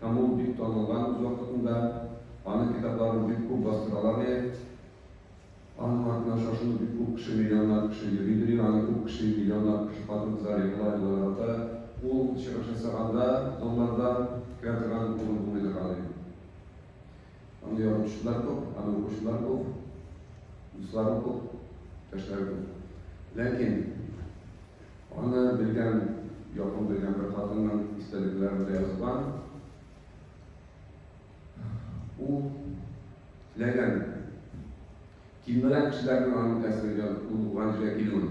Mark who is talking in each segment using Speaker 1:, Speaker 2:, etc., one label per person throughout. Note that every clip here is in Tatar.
Speaker 1: Һәм ул бик танылган үз вакытында, аның китапларын бик күп бастыралар ди. Аның артыннан шашынып бик күп кеше, миллионнар кеше йөри ди, аны күп кеше, миллионнар кеше хатын-кызлар егыла, егыла ярата. Ул чыгыш ясаганда залларда керә торган урын булмый торган ди. Аны яратучылар күп, аны укучылар күп, дуслары күп, иптәшләре күп. Ләкин Аны белгән, якын белгән бер хатынның истәлекләрендә язылган. Ул теләгән кимрәк кешеләрнең аның тәсиргә булган җиргә килүен.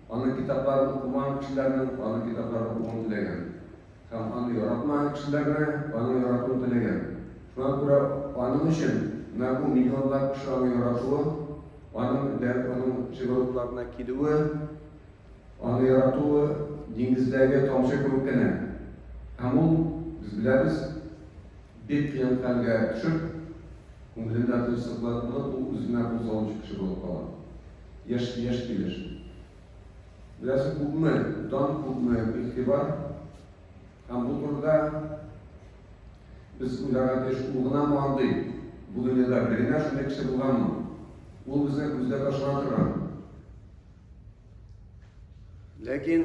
Speaker 1: Аның китапларын укымаган кешеләрнең аның китапларын укуын теләгән. Һәм аны яратмаган кешеләр дә аны яратуын теләгән. Шуңа күрә аның өчен менә бу миллионлап кеше аны яратуы, аның дәрт, аның җылылыкларына килүе, аны яратуы диңгездәге тамчы кебек кенә. Һәм ул, без беләбез, бик кыен хәлгә төшеп, күңелендә тынчсызланып, ул үзенә бу залымчы кеше булып кала. Яшь яшь килеш. Беләсең күпме дан, күпме игътибар. Һәм бу турыда без уйларга тиеш, ул гынамы андый? Бу дөньяда бер генә шундый кеше булганмы? Ул безне күздә ташлана торган. Ләкин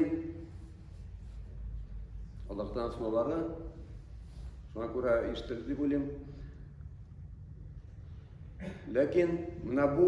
Speaker 1: Аллаһтан сораулары шуңа күрә ишетелде дип уйлыйм. Ләкин менә бу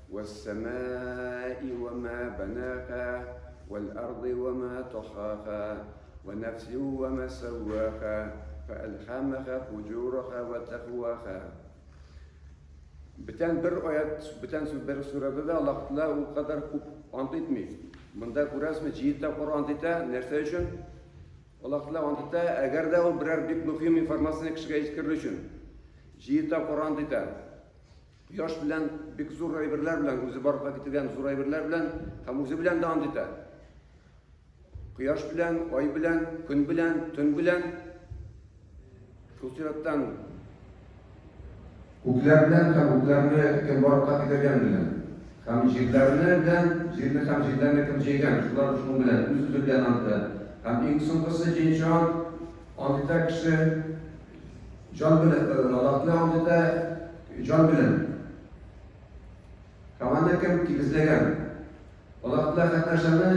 Speaker 1: Уәссәмәи уә мә бәнәхә, уәләрди уә мә тахахә, уәнәфсин уә мә сәуәхә, фәәлхәмәхә фуҗурахә уә тәкуахә. Бүтән бер аят, бүтән бер сүрәдә дә Аллаһ Тәгалә ул кадәр күп ант итми. Монда күрәсезме, җиде тапкыр ант итә. Нәрсә өчен? Аллаһ Тәгалә ант итә, әгәр дә ул берәр бик мөһим информацияне кешегә җиткерер өчен. Җиде тапкыр ант итә. Кояш белән бик зур әйберләр белән, үзе барлыкка китерген зур әйберләр белән һәм үзе белән дә ант итә. Кояш белән, ай белән, көн белән, төн белән, шул сираттан күкләр белән һәм күкләрне кем барлыкка китерген белән һәм җирләрне белән, җирне һәм җирләрне кем җәйгән, шулар шуның белән, үз-үзе белән ант итә. Һәм иң соңгысы җенче ант, ант итә кеше. Җан белән э, Ладакны алды да җан белән. Һаваны кем тигезләгән? Ладакны хәт нәрсәне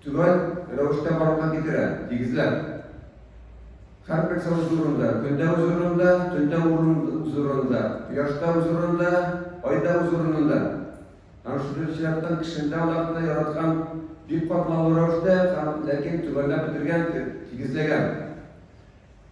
Speaker 1: түбән рәвештә барлыкка китерә, тигезләп. Хәрп нәрсә үз урынында, көндә үз урынында, төндә үз урынында, кояшта үз урынында, айда үз урынында. Һәм шушы чираттан кешендә Аллаһны яраткан бик катлаулы рәвештә һәм ләкин түбәнләп бетергән, тигезләгән.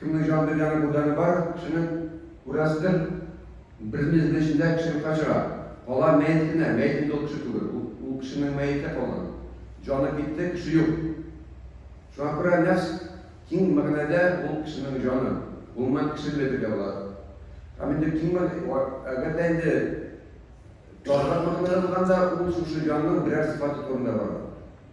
Speaker 1: Кемнең җанында җаны бу җаны бар кешенең күрәсездер бер мизгел эчендә кеше юкка чыга. Кала мәет кенә, мәет инде ул кеше түгел, ул кешенең мәете калган. Җаны китте, кеше юк. Шуңа күрә нәфс киң мәгънәдә ул кешенең җаны. Гомумән кешене дә әйтергә була. Һәм инде киң әгәр дә инде тарырак мәгънәдә булганда ул шушы җанның берәр сыйфаты турында бара.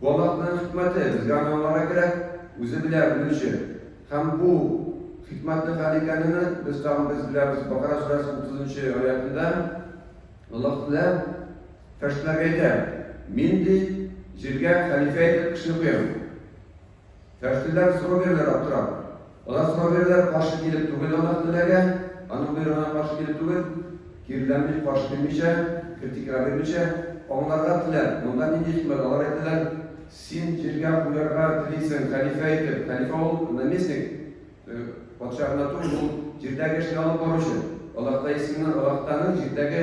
Speaker 1: Бу Аллаһның хикмәте, безгә аны аңларга кирәк, үзе белә, белүче. Һәм бу хикмәтне хәл икәнене без тагын без беләбез. Бакара сүрәсе 30 нчы аятында Аллаһ Тәгалә фәрештәләргә әйтә, Мин ди, җиргә хәлифә итеп кешене куям. Фәхриләр сорау бирәләр аптырап. Алар сорау бирәләр каршы килеп түгел Аллаһ теләгә, Аның боерыгына каршы килеп түгел, киреләнми, каршы килмичә, критикага бирмичә, аңларга теләп, монда нинди хикмәт, алар әйтәләр, Син җиргә куярга телисең, хәлифә итеп, хәлифә ул наместник, патша гына түгел, ул җирдәге эшне алып баручы, Аллаһ та исеменнән, Аллаһ таның җирдәге,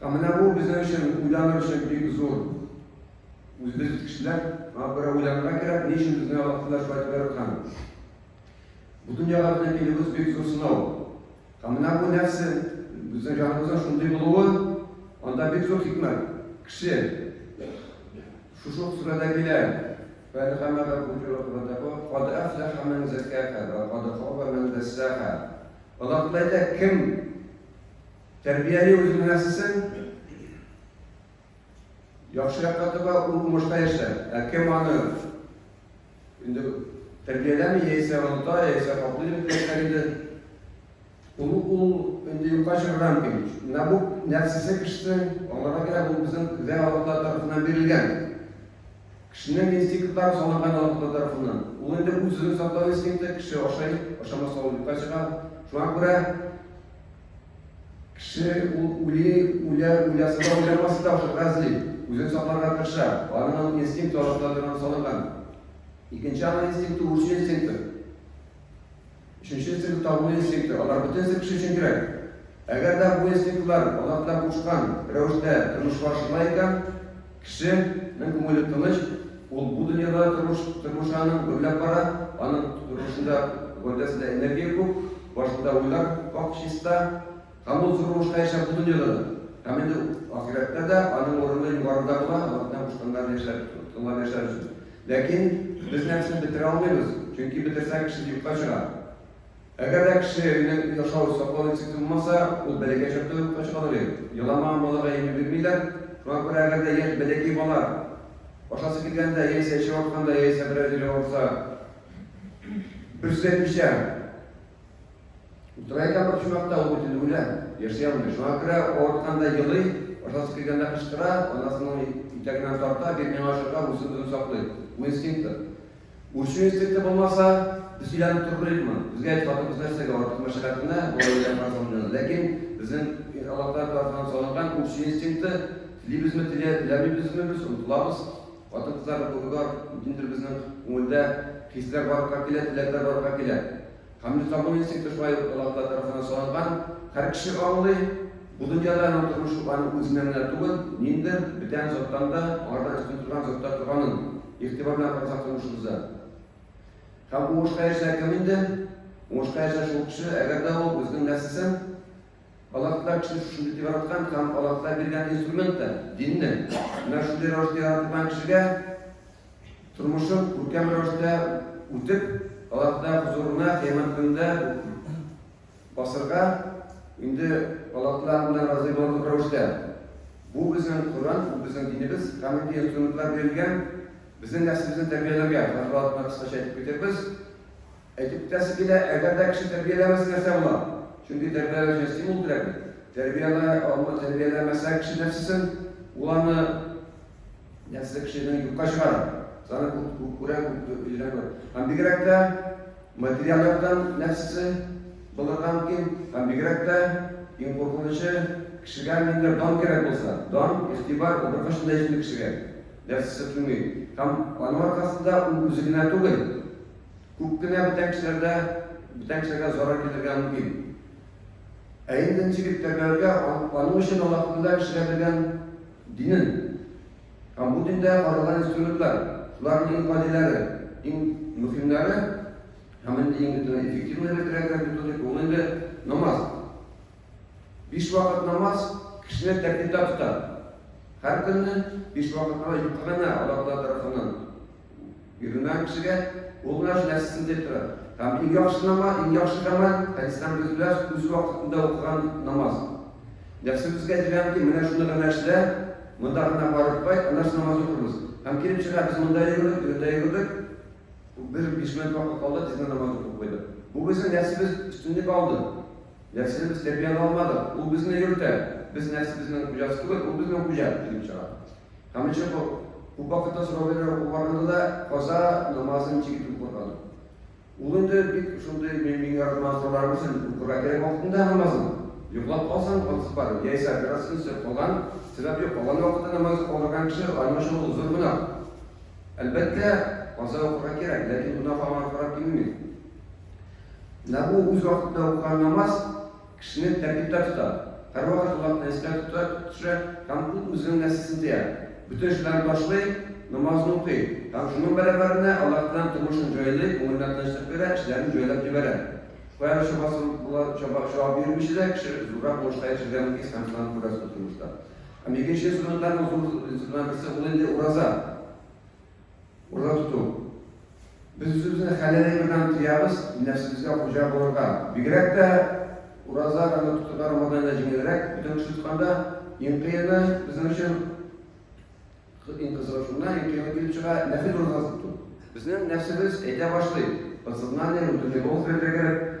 Speaker 1: Ә менә бу безнең өчен уйланыр өчен бик зур. Үзебез кешеләр, аңа күрә уйланырга кирәк, ни өчен безне Аллаһ шулай итеп яраткан. Бу дөньяга безнең килүебез бик зур сынау. Ә менә бу нәрсә, безнең җаныбызның шундый булуы, анда бик зур хикмәт. Кеше шушы ук сүрәдә килә. Фәлхәмәгә күтәрелгәндә бу, кад афлаха мен закаха, кад хаба мен дәссаха. Аллаһ Тәгалә кем Тәрбияне үзең генәсесең. Яхшы якка таба ул уңышта яшә. Ә кем аны инде тәрбияләми, яисә оныта, яисә каплыймы дигәннәр инде. Ул ул инде юкка чыгарган кем. Менә бу нәфсесе кешесен аңларга кирәк, ул безнең Худай Аллаһ тарафыннан бирелгән. Кешенең инстинктлары салынган Аллаһ тарафыннан. Ул инде үзен саклау инстинкты, кеше ашай, ашамаса ул юкка чыга. Шуңа күрә Кеше ул үли, үлә, уйласа да, уйламаса да ошый, гази, үзен сакларга тырыша. Аның ул инстинкты арасында торган салынган. Икенче аның инстинкты үрчү инстинкты. Өченче инстинкты табыну инстинкты. Алар бөтенесе кеше өчен кирәк. Әгәр дә бу инстинктлар алар белән кушкан рәвештә тормышка ашырыла икән, Кеше нең күңеле тыныч, ул бу дөньяда тормыш тормышаның гөрләп бара, аның тормышында гәүдәсендә энергия күп, башында уйлар пакь чиста, һәм ул зур уңышка ирешә бу дөньяда да, һәм инде ахирәттә дә аның урыны югарыда була, Аллаһның кушканнарын яшәр, тыңлап яшәр өчен. Ләкин без нәфесне бетерә алмыйбыз, чөнки бетерсәң кеше юкка чыга. Әгәр дә кеше белән яшәү саклау инстинкты булмаса, ул бәләкәй чакта ук юкка чыга алыр иде. Еламаган балага йөри бирмиләр. Шуңа күрә әгәр дә яшь бәләкәй бала ашасы килгәндә, яисә эче авыртканда, яисә берәр җире авырса, бер сүз әйтмичә утыра икән бер почмакта, ул бит инде үлә, яши алмый. Шуңа күрә авыртканда елый, ашасы килгәндә кычкыра, анасының итәгеннән тарта, бир миңа ашарга, үзен-үзе саклый. Бу инстинктыр. Үрчү инстинкты булмаса, без сөйләнеп торып беликме? Безгә әйт, хатын-кыз нәрсәгә артык мәшәкать менә, болай белән фарзланган. Ләкин безнең Аллаһ Тәгалә тарафыннан салынган үрчү инстинкты, телибезме, телә, теләмибезме без, онытылабыз. Хатын-кызлар, ниндидер безнең күңелдә хисләр барлыкка килә, теләкләр барлыкка килә. Һәм без табын инстинкты шулай ук Аллаһ тарафыннан салынган, һәр кеше аңлый, бу дөньяда аның тормышы аның үзеннән генә түгел, ниндер бүтән заттан да, аңардан өстен торган заттан торганын игътибар белән карасак тормышыбызда. Һәм уңышка ирешә кем инде? Уңышка ирешә шул кеше, әгәр дә ул үзенең нәфсесен Аллаһ Тәгалә кеше шушында дип яраткан һәм Аллаһ Тәгалә биргән инструмент та, динне, менә шундый рәвештә яратылган кешегә тормышын күркәм рәвештә үтеп, Аллаһыда хозурына кыямәт көнендә басырга, инде Аллаһыда аңа разый булырлык рәвештә. Бу безнең Коръән, бу безнең динебез, камиль инструментлар бирелгән, безнең нәфсебезне тәрбияләргә. Хәзер вакытта кыскача әйтеп китербез. Әйтәсе килә, әгәр дә кеше тәрбияләмәсә, нәрсә була? Чөнки тәрбияләү өчен стимул кирәк бит. Тәрбиялә алмы, тәрбияләмәсә кеше нәрсәсен, ул аны нәрсә кешене юкка чыгара. Саны күп, күп күрә, күп өйрәнә күрә. Һәм бигрәк тә материаль яктан нәрсәсе булырга мөмкин, һәм бигрәк тә иң куркынычы кешегә нинди дан кирәк булса, дан, игътибар ул беркайчан да һичбер кешегә нәрсәсе килми. Һәм аның аркасында ул үзе генә түгел, Күп кенә бүтән кешеләрдә бүтән кешеләргә зарар китерергә мөмкин. Ә инде ничек тәрбияләргә, аның өчен Аллаһ Тәгалә кешегә биргән динен һәм бу диндә каралган инструментлар, шуларның иң гадиләре, иң мөһимнәре һәм инде иң эффективный дип әйтергә методик ул инде намаз. Биш вакыт намаз кешене тәртиптә тота. Һәр көнне биш вакыт намаз юкка гына Аллаһ Тәгалә тарафыннан Бирелмәгән кешегә ул гына җинаятьсез дип тора. Һәм иң яхшы намаз, иң яхшы гамәл, хәдистән без беләс, үз вакытында укыган намаз. Нәфсебезгә диләм ки, менә шуны гына эшлә, монда гына барып кайт, аннан соң намаз укырбыз. Һәм килеп чыга, без монда йөгердек, биредә йөгердек, бер биш минут вакыт калды, тиздән намаз укып куйдык. Бу безнең нәфсебез өстенлек алды. Нәфсене без тәрбияли алмадык. Ул безне йөртә. Без нәфсебезнең хуҗасы түгел, ул безнең хуҗа килеп чыга. Һәм ничек бу? Күп вакытта сорау бирә ул барында да каза намазын ничек итеп укырга? Ул инде бик шундый мин мин яратмас сорау өчен укырга кирәк вакытында намазын. Йоклап калсаң, ансыз бар. Яисә бераз инсеп калган, сәбәп юк, калган вакытта намазы калдырган кеше аның өчен ул зур гөнаһ. Әлбәттә, каза укырга кирәк, ләкин гөнаһ аңа карап кимеми. Менә бу үз вакытында укыган намаз Кешене тәртиптә тота. Һәрвакыт Аллаһны истә тота, төшә һәм ул үзенең нәфесен тыя. Бөтен эшләрен ташлый, намазын укый һәм шуның бәрабәренә Аллаһ белән тормышын җайлый, күңеленә тынычлык бирә, эшләрен җайлап җибәрә. Кая да чабасы була, чаба чабып йөрмичә дә кеше зуррак уңышка ирешергә мөмкин һәм шуларны күрәсез бу тормышта. Һәм икенче инструментларның зур инструментларның берсе ул инде ураза. Урын тоту. Без үзебезне хәләл әйбердән тыябыз, нәфсебезгә хуҗа булырга. Бигрәк тә ураза аны тотуда Рамаданнан җиңелрәк. Бөтен кеше тотканда иң кыены безнең өчен иң кызыгы шуннан, иң кыены килеп чыга, нәфел уразасы тоту. Безнең нәфсебез әйтә башлый, подсознание, внутренний голос белән бергә кереп,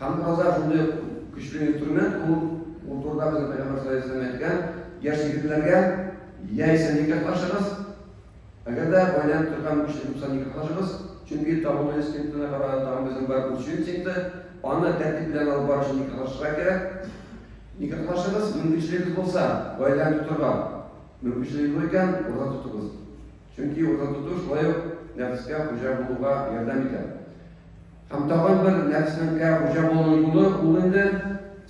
Speaker 1: Һәм ураза шундый ук көчле инструмент, ул ул турыда безнең Пәйгамбәр саллаллаһу алейһи вәсәлләм әйткән, яшь егетләргә яисә никахлашыгыз, әгәр дә гаиләнең торган мөмкинчелеге булса, никахлашыгыз, чөнки табыну инстинктына караганда тагын безнең бар үрчү инстинкты, аны тәртип белән алып бару өчен никахлашырга кирәк. Никахлашыгыз, мөмкинчелегегез булса, гаиләне тотарга мөмкинчелегегез юк икән, ураза тотыгыз. Чөнки ураза тоту шулай ук нәфескә хуҗа булуга ярдәм итә. Һәм тагын бер нәрснкә хуҗа булу юлы ул инде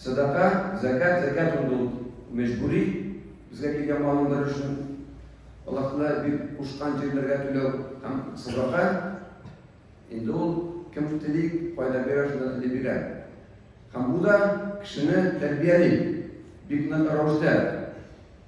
Speaker 1: сәдака, зәкәт, зәкәт инде ул мәҗбүри, безгә килгән малның бер өлешен Аллаһны бик кушкан җирләргә түләү һәм садака. Инде ул кем тели, кайда бирә, шунда тели бирә. Һәм бу да кешене тәрбияли. Бик нык рәвештә.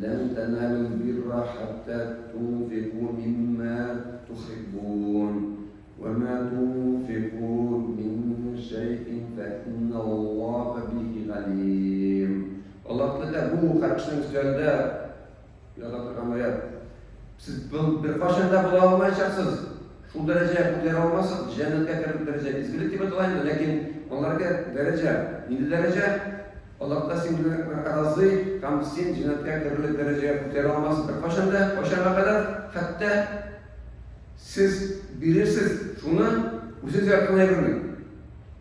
Speaker 1: Лән тәналүл бирра хәттә тунфику миммә тухиббун, вә мә тунфику мин шәйин фә инналлаһа бихи галим. Аллаһ Тәгалә бу хәдисне үзгәртә, яза торган аят. Сез беркайчан да була алмаячаксыз, шул дәрәҗәгә күтәрә алмассыз, җәннәткә кереп дәрәҗә изгелек дип атала инде, ләкин аларга дәрәҗә, нинди дәрәҗә? Аллаһ та сине разый һәм син җеннәткә керерлек дәрәҗәгә күтәрә алмасын. Беркайчан да, кайчанга кадәр, хәтта сез бирерсез, шуны үзегез яраткан әйберне,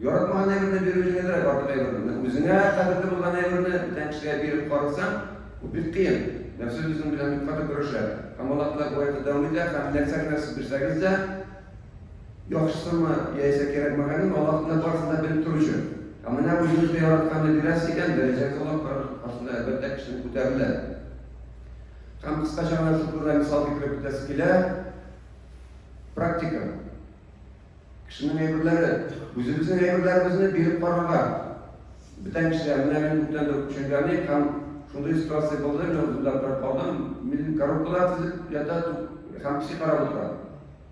Speaker 1: яратмаган әйберне бирү җиңелрәк, артык әйберне. Менә үзеңә кадерле булган әйберне бүтән кешегә биреп карасаң, бу бик кыен. Нәфсе үзең белән бик каты көрәшә. Һәм Аллаһ Тәгалә бу аятта дәвам итә, һәм нәрсә генә сез бирсәгез дә, Яхшысымы, яисә кирәкмәгәнен Аллаһның барысын да белеп торучы. Ә менә үзебезгә яратканны бирәсе икән, дәрәҗәгез олы, кырын тоткасында, әлбәттә, кешелек күтәрелә. Һәм кыскача гына шул турыда мисал китереп үтәсе килә. Практика. Кешенең әйберләре, үзебезнең әйберләребезне биреп карарга. Бүтән кешегә менә мин күптән дә төшенгәнем һәм шундый ситуация булды, мин үземдә торып калдым. Мин коробкалар тезеп ята һәм песи карап утыра.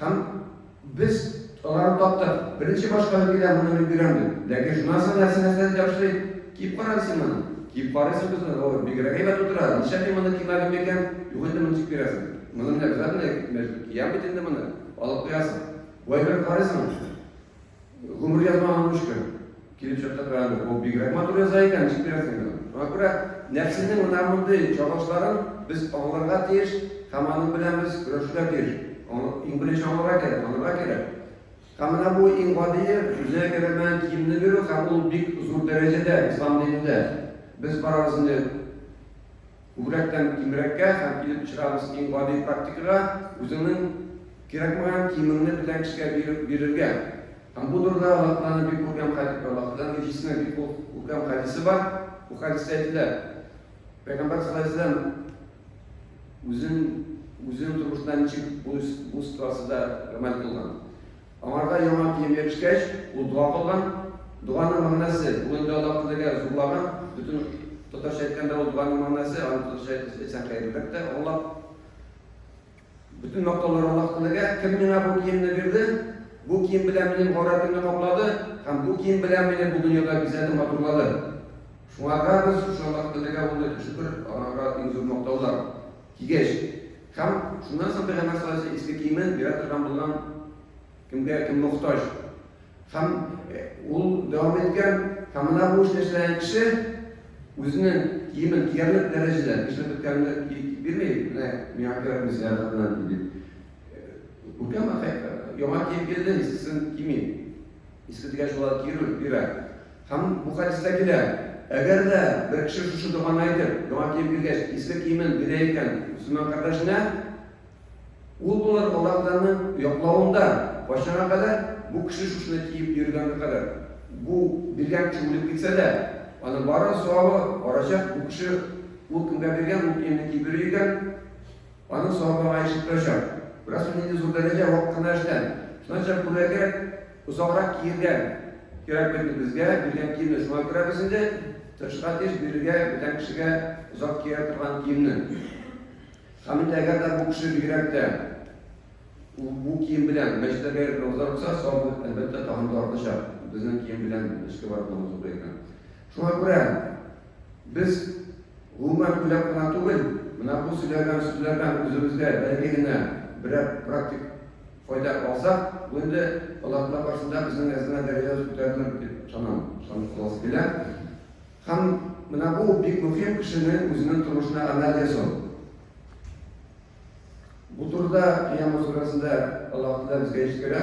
Speaker 1: Һәм без аларны таптык. Беренче башка бер килә, моны мин бирәм дип. Ләкин шуннан соң нәрсә нәрсә дип ябышрый. Киеп кара әле син моны. Киеп карыйсы юк үзенең. О, бигрәк әйбәт утыра. Ничә мин моны кимәгән микән? Юк инде, моны ничек бирәсең? Моны мин обязательно мәҗбүр киям бит инде моны. Алып куясың. Вай бер карыйсың. Гомер язмаган үз кем? Килеп чыкты кыраны. Бу бигрәк матур яза икән, ничек бирәсең инде? Шуңа күрә нәфсенең менә мондый чагылышларын без аңларга тиеш һәм аның белән без көрәшергә тиеш. Аны иң беренче аңларга кирәк, танырга кирәк. Һәм менә бу иң гадие, үзенә кирәкмәгән киемне бирү һәм ул бик зур дәрәҗәдә ислам динендә. Без барабыз инде Күбрәктән кимрәккә һәм килеп очрагыз иң гади практикага, үзеңнең кирәкмәгән киемеңне бөтен кешегә биреп бирергә. Һәм бу турыда Аллаһ Тәгаләнең бик күркәм хәди, Аллаһ Тәгаләнең Илчесенең бик күркәм хәдисе бар. Бу хәдистә әйтелә, Пәйгамбәр саллаллаһу алейһи ва сәлләм үзен үзенең тормышында ничек бу ситуациядә гамәл кылган. Аңарга яңа кием бирешкәч, ул дога кылган. Доганың мәгънәсе, ул инде Аллаһ теләгән, зурлаган. Бөтен татарча әйткәндә, ул доганың мәгънәсе, аны татарча әйтсәң хәерлерәк тә аңлап. Бөтен мактаулар Аллаһ теләгә. Кем миңа бу киемне бирде? Бу кием белән минем гаурәтемне каплады һәм бу кием белән мине бу дөньяда бизәде, матурлады. Шуңарга без шушы Аллаһ теләгә улы шөкер, аңарга иң зур мактаулар. Кигәч. Һәм шуннан соң Пәйгамбәр саллаллаһу алейһи ва сәлләм иске киемен бирә торган булган кемгә кем мохтаҗ. Һәм ул дәвам иткән, һәм менә бу эшне эшләгән кеше үзенең киемен киярлек дәрәҗәдә эшләп беткәнне бирми, менә миңа кирәкми зыяратына дип. Күркәм яңа киеп килде, искесен кими. Искедәге шулай кире бирә. Һәм бу хәдистә килә, Әгәр дә бер кеше шушы доганы әйтеп, яңа кием кигәч, иске киемен бирә икән мөселман кардәшенә, ул булыр Аллаһтаның яклавында, кайчанга кадәр, бу кеше шушыны киеп йөргәнгә кадәр. Бу биргән кеше үлеп китсә дә, аның бары савабы барачак, бу кеше ул кемгә биргән ул киемне киеп йөри икән, Аның савабы аңа еш тотылачак. Бераз соң нинди зур дәрәҗә, вак кына эштән. Шуннан чыгып күлмәккә озаграк киергә кирәк бит инде безгә, биргән киемне шуңа күрә без инде тырышырга тиеш бирергә бүтән кешегә озак кия торган киемне. Һәм инде әгәр дә бу кеше бигрәк тә бу кием белән мәчетләргә йөреп намазлар укыса, савабы әлбәттә тагын да артачак. Безнең кием белән мәчеткә барып намаз укый икән. Шуңа күрә Без, гомумән, уйлап кына түгел, менә бу сөйләгән сүзләрдән үзебезгә бәлки генә берәр практик файда алсак, бу инде Аллаһтаала каршында безнең әзмә дәрәҗәбез күтәрелер дип ышанам, ышанып каласы килә. Һәм менә бу бик мөһим кешенең үзенең тормышына гамәл ясау. Бу турыда Кыямәт сүрәсендә Аллаһ Тәгалә безгә җиткерә.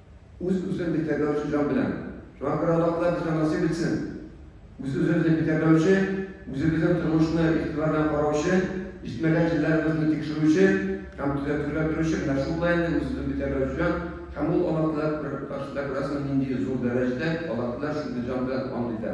Speaker 1: Үз-үзен битәрләүче җан белән. Шуңа күрә Аллаһ Тәгалә безгә насыйп итсен! Үз-үзебезне битәрләүче, үзебезнең тормышны игътибар белән караучы, җитмәгән җирләребезне тикшерүче һәм төзәтергә торучы менә шул да инде үз-үзен битәрләүче җан һәм ул Аллаһ Тәгалә бер каршыда күрәсеңме нинди зур дәрәҗәдә Аллаһ Тәгалә шундый җан белән ант итә.